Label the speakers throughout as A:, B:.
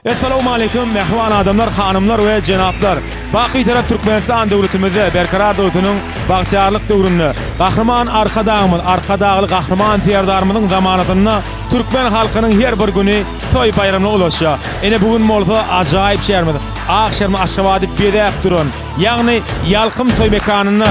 A: Essalawmaleýkum mähriban adamlar hanymlar we jenaplar! Bak Bitarap Türkmenistan döwletimizde Berkarar döwletiniň bagtyýarlyk döwründe Gahryman Arkadagymyz Arkadagly Gahryman Serdarymyzyň zamanasynda türkmen halkynyň her bir güni toý baýramyna ulaşýar. Ine bu gün bolsa ajaýyp şäherimiz Ak şäherimiz Aşgabady bezäp duran ýagny Ýalkym toý mekanynda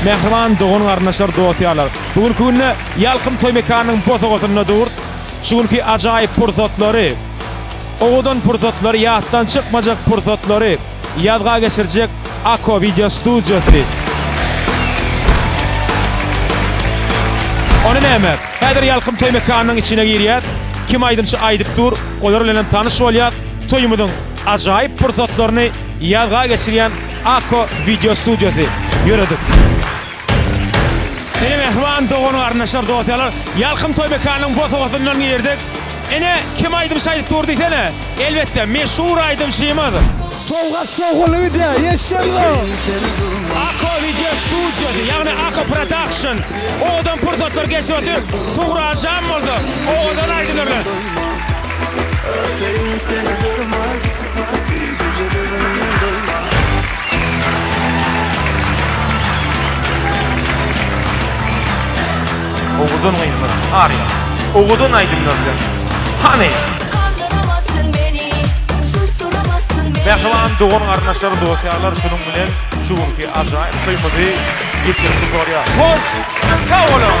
A: mähriban dogan-garyndaşlar dost-ýarlar bu günki günde Ýalkym toý mekanynyň bosagasynda dur. Şu günki ajaýyp pursatlary, owadan pursatlary, ýatdan çykmajak pursatlary ýazga geçirjek Ako wideo studiýasy. Ony näme? Häzir Ýalkym toý mekanynyň içine girýäs. Kim aýdymçy aýdyp dur, olar bilen hem tanyş bolýas. Toýumyzyň ajaýyp pursatlaryny ýazga geçirýän Ako wideo studiýasy. Ýöredik. Ene mähriban dogan-garyndaşlar, dost-ýarlar, Ýalkym toý mekanynyň bosagasyndan girdik. Ene, kim aýdymçy aýdyp dur diýsene? Elbetde, meşhur aýdymçymyz. Sowgat şowhunly wideo, eşitseňizow! Ako wideo studiýasy, ýagny Ako Production owadan pursatlar geçirip otyr. Tugrajam bolsa owadan aýdymlar bilen. Öteýin seni durmaz. Owadan gyzlar aryýar. Owadan aýdymlar bilen. Hany! Kandyramazsyn meni, susturamazsyn meni. Mähriban dogan-garyndaşlar, dost-ýarlar şunuň bilen şu günki ajaýyp toýumyzy geçirip gutarýas. Hoş, sag boluň!